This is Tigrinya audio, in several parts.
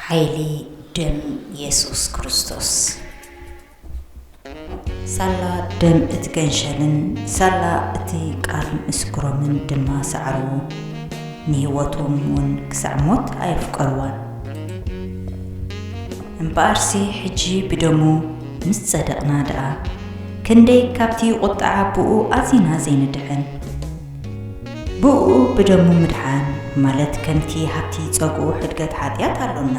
ሓይሊ ደም የሱስ ክርስቶስ ሳላ ደም እቲ ገንሸልን ሳላ እቲ ቃል ምስክሮምን ድማ ሰዓርዎ፣ ንህይወቶም እውን ክሳዕ ሞት ኣየፍቀርዋን። እምበኣርሲ ሕጂ ብደሙ ምስ ጸደቕና ደኣ፣ ክንደይ ካብቲ ቁጥዓ ኣቦኡ ኣዚና ዘይንድሕን! ብእኡ ብደሙ ምድሓን ማለት ከምቲ ሃብቲ ጸግኡ ሕድገት ሓጢኣት ኣሎና።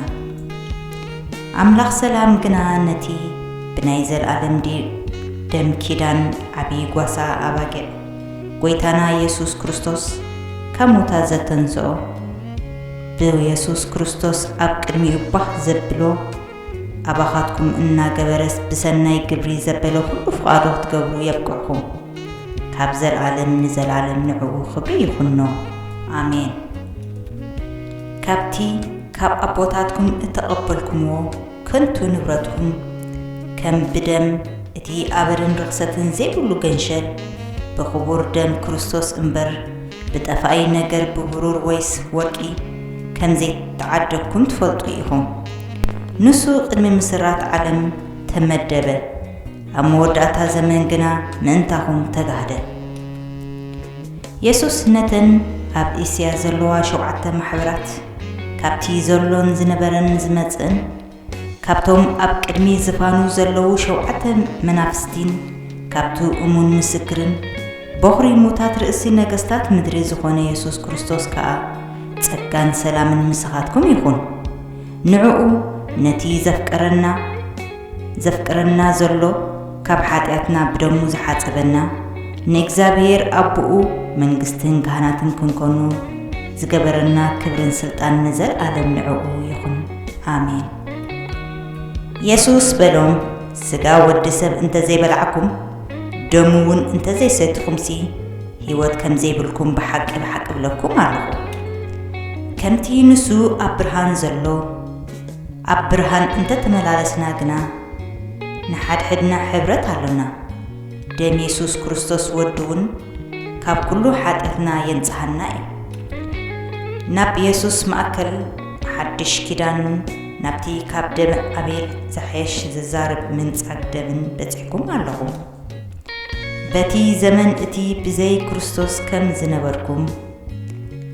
ኣምላኽ ሰላም ግና ነቲ ብናይ ዘልኣለም ደም ኪዳን ዓቢ ጓሳ ኣባጊዕ ጎይታና የሱስ ክርስቶስ ካብ ሙታት ዘተንስኦ ብየሱስ ክርስቶስ ኣብ ቅድሚኡ ባህ ዘብሎ ኣባኻትኩም እናገበረስ ብሰናይ ግብሪ ዘበለ ኹሉ ፍቓዱ ክትገብሩ የብቅዕኩም። ካብ ዘልኣለም ንዘልኣለም ንዕኡ ኽብሪ ይኹኖ። ኣሜን። ካብቲ ካብ ኣቦታትኩም እተቐበልኩምዎ ከንቱ ንብረትኩም፣ ከም ብደም እቲ ኣበርን ርኽሰትን ዘይብሉ ገንሸል፣ ብኽቡር ደም ክርስቶስ እምበር፣ ብጠፋኢ ነገር ብብሩር ወይስ ወርቂ፣ ከም ዘይተዓደግኩም ትፈልጡ ኢኹም። ንሱ ቅድሚ ምስራት ዓለም ተመደበ፣ ኣብ መወዳእታ ዘመን ግና ምእንታኹም ተጋህደ። የሱስ ነተን ኣብ እስያ ዘለዋ ሾብዓተ ማሕበራት፣ ካብቲ ዘሎን ዝነበረን ዝመጽእን፣ ካብቶም ኣብ ቅድሚ ዝፋኑ ዘለዉ ሾብዓተ መናፍስቲን ካብቲ እሙን ምስክርን፣ በዅሪ ሙታት ርእሲ ነገስታት ምድሪ ዝዀነ የሱስ ክርስቶስ ከኣ፣ ጸጋን ሰላምን ምሳኻትኩም ይኹን። ንዕኡ ነቲ ዘፍቀረና ዘፍቅረና ዘሎ ካብ ሓጢኣትና ብደሙ ዝሓጸበና ንእግዚኣብሔር ኣቦኡ መንግስትን ካህናትን ክንኮኑ ዝገበረና ክብርን ስልጣን ንዘልኣለም ንዕኡ ይኹን ኣሜን። የሱስ በሎም ስጋ ወዲ ሰብ እንተዘይበላዕኩም ደሙ ውን እንተዘይሰቲኹምሲ ህይወት ከምዘይብልኩም ብሓቂ ብሓቂ እብለኩም ኣለኹ። ከምቲ ንሱ ኣብ ብርሃን ዘሎ ኣብ ብርሃን እንተተመላለስና ግና ንሓድሕድና ሕብረት ኣሎና። ደም የሱስ ክርስቶስ ወዱ ውን ካብ ኩሉ ሓጢኣትና የንጽሃና እዩ። ናብ የሱስ ማእከል ሓድሽ ኪዳን ናብቲ ካብ ደም ኣቤል ዝሓይሽ ዝዛረብ ምንጻግ ደምን በጺሕኩም ኣለኹም። በቲ ዘመን እቲ ብዘይ ክርስቶስ ከም ዝነበርኩም፣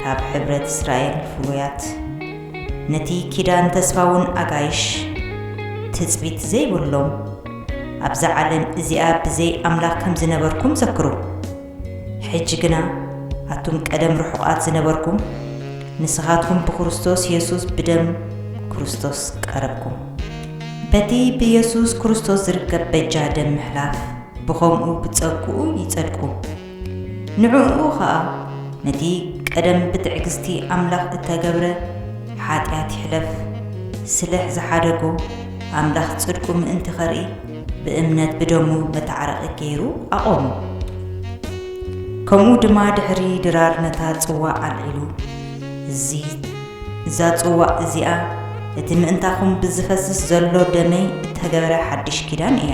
ካብ ሕብረት እስራኤል ፍሉያት፣ ነቲ ኪዳን ተስፋውን ኣጋይሽ፣ ትጽቢት ዘይብሎም፣ ኣብዛ ዓለም እዚኣ ብዘይ ኣምላኽ ከም ዝነበርኩም ዘክሩ። ሕጂ ግና ኣቱም ቀደም ርሑቓት ዝነበርኩም፣ ንስኻትኩም ብክርስቶስ የሱስ ብደም ክርስቶስ ቀረብኩም። በቲ ብየሱስ ክርስቶስ ዝርከብ በጃ ደም ምሕላፍ፣ ብኸምኡ ብጸግኡ ይጸድቁ። ንዕኡ ኸኣ ነቲ ቀደም ብትዕግስቲ ኣምላኽ እተገብረ ሓጢኣት ይሕለፍ፣ ስለሕ ዝሓደጎ፣ ኣምላኽ ጽድቁ ምእንቲ ኸርኢ፣ ብእምነት ብደሙ መታዓረቂ ገይሩ ኣቆሙ። ከምኡ ድማ ድሕሪ ድራር ነታ ጽዋእ ኣልዒሉ እዚ እዛ ጽዋእ እዚኣ እቲ ምእንታኹም ብዝፈስስ ዘሎ ደመይ እተገብረ ሓድሽ ኪዳን እያ።